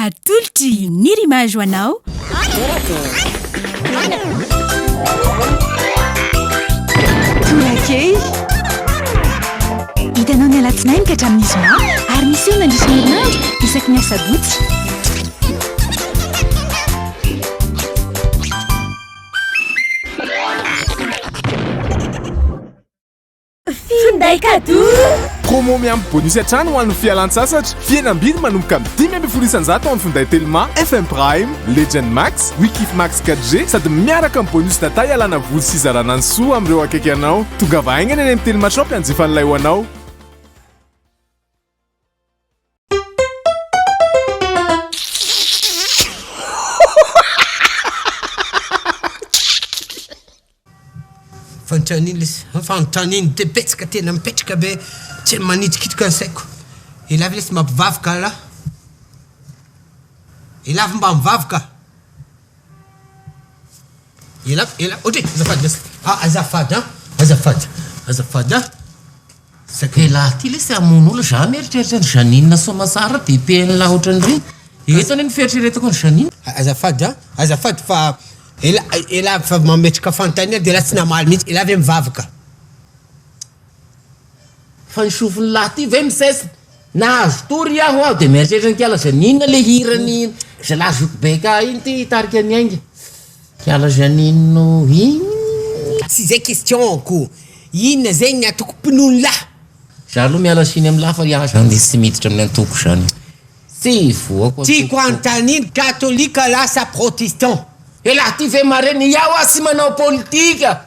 Atolotry ny Rimage ho anao. Tolakely. Hitanao ny alatsinainy ka hatramin'ny zoma ary miseho mandritra ny herinandro isaky ny asabotsy. Finday cadeau! Promo miampy bonus hatrany ho an'ny fialan-tsasatra. Fihenam-bidy manomboka amin'ny dimy ambin'ny folo isan-jato ao amin'ny finday Telma, FM Prime, Legend Max, Wikif Max 4G sady miaraka amin'ny bonus data ialana voly sy izarana ny soa amin'ireo akaiky anao. Tongava haingana eny amin'ny Telma Shop hanjifa an'ilay ho anao. Fanontaniana lesy an, fanontaniana dia betsaka tena mipetraka be tsy hay manitrikitrika ny saiko. Elah ve lesy mba mpivavaka alah? Elah ve mba mivavaka? Elako elako ohatry e azafady lesy a azafady a azafady azafady a saika elah ty lesy hamono olona za mieritreritra ny Janine Soamasara be PL ohatran'ireny eto anie ny fieritreretako ny Janine azafady a azafady fa ela ela fa mametraka fanontaniana de elah tsy namaly mihitsy elah ve mivavaka Fa ny sofiny lahy ty ve mises nahazo tory aho aho de mieritreritra ny kialazany inona le hiran'i zalahy zokibaika iny ty hitarika ny ainga kialazany ino iny. Tsy zay question ko. Inona zegny ny antoko mpinono lahy? Za aloha miala siny am lahy fa iah zany de tsy miditra amin'ny antoko zany. Tsy hivoako antoko. Tiako anontanina katolika lasa protestant. Elah ty ve mare ny iah oa tsy manao politika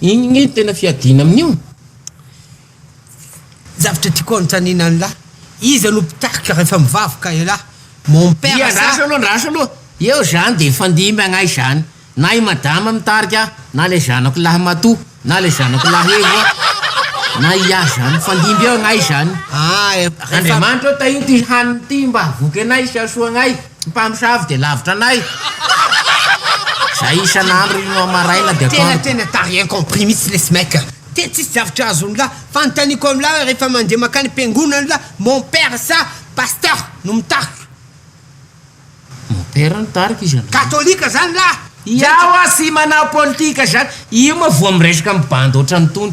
Iny nge no tena fiadiana amin'io. Zavatra tiako anontaniana anlah, iza no mpitarika rehefa mivavka elah? Mon père sa? Dia andraso aloha andraso aloha. Eo zany dia hifandimby agnay zany. Na i madama mitarika na le zanako lahy Mato na le zanako lahy Evo na i ahy zany. Mifandimby eo agnay zany. Andriamanitra ô tahio ty hanina ty mba hahavoky anay sy hahasoa agnay. Ny mpamosavy dia lavitra anay. Zay isan'andro ry no maraina dia atoandro. Tena tena t'as rien compris mitsy lesy mec a! Tena tsisy zavatra azony lahy, fanontaniako any lahy hoe rehefa mandeha makany am-piangonana lahy mon père sa pasteur no mitarika? Mon père no tarika izy androany. Katolika zany lahy! Ia ho'a sy manao politika zany? Io moa voa miresaka amin'ny bandy ohatran'itony?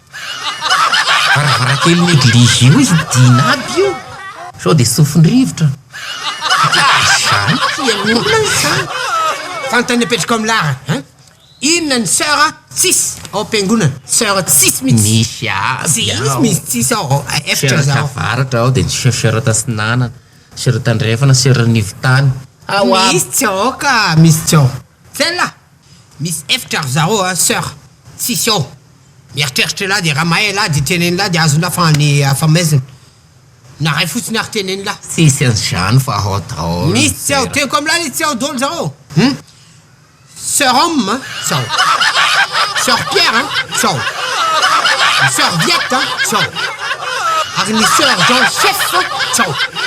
Varavarankelin'ny eglizy io izy midina aby io. Sao dia sofin-drivotra. Izany fihainoana izany. Fantany apetraka ao amin'ny lar an. Inona ny soeur tsisy ao am-piangonana. Soeur tsisy mihitsy. Misy aby ao. Tsisy misy tsisy ao efitra ao. Soeur tavaratra ao dia ny soeur tatsinanana, soeur tandrefana, soeur anivotany. Misy tsy ao ka misy tsy ao. Tsy hay lahy. Misy efitra ry zareo a soeur tsisy ao mieritreritra elah de raha mahay elah de tenen'lah de azon'lah fa any afa maizina na ray fotsiny ary tenen'lah. Tsisy anzany fa hao daholo. Misy tsy ao tenko am'lah izy tsy ao daholo zareo hum soeur homme a tsy ao soeur pierre a tsy ao ny soeur viette a tsy ao ary ny soeur jean chef a tsy ao.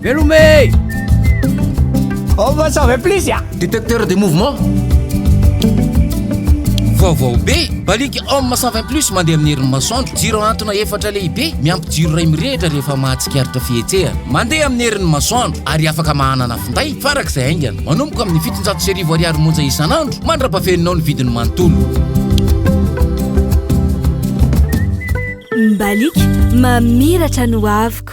Veloma e! On va s'en plus ya! Détecteur de mouvement. Vaovao be! Baliky Homme 120 plus mandeha amin'ny herin'ny masoandro. Jiro hantona efatra lehibe miampy jiro iray mirehitra rehefa mahatsikaritra fihetsehana. Mandeha amin'ny herin'ny masoandro ary afaka mahanana finday farak'izay haingana. Manomboka amin'ny fitonjato sy arivo ariary monja isan'andro mandra-pafeninao ny vidiny manontolo. Mbaliky mamiratra ny hoaviko.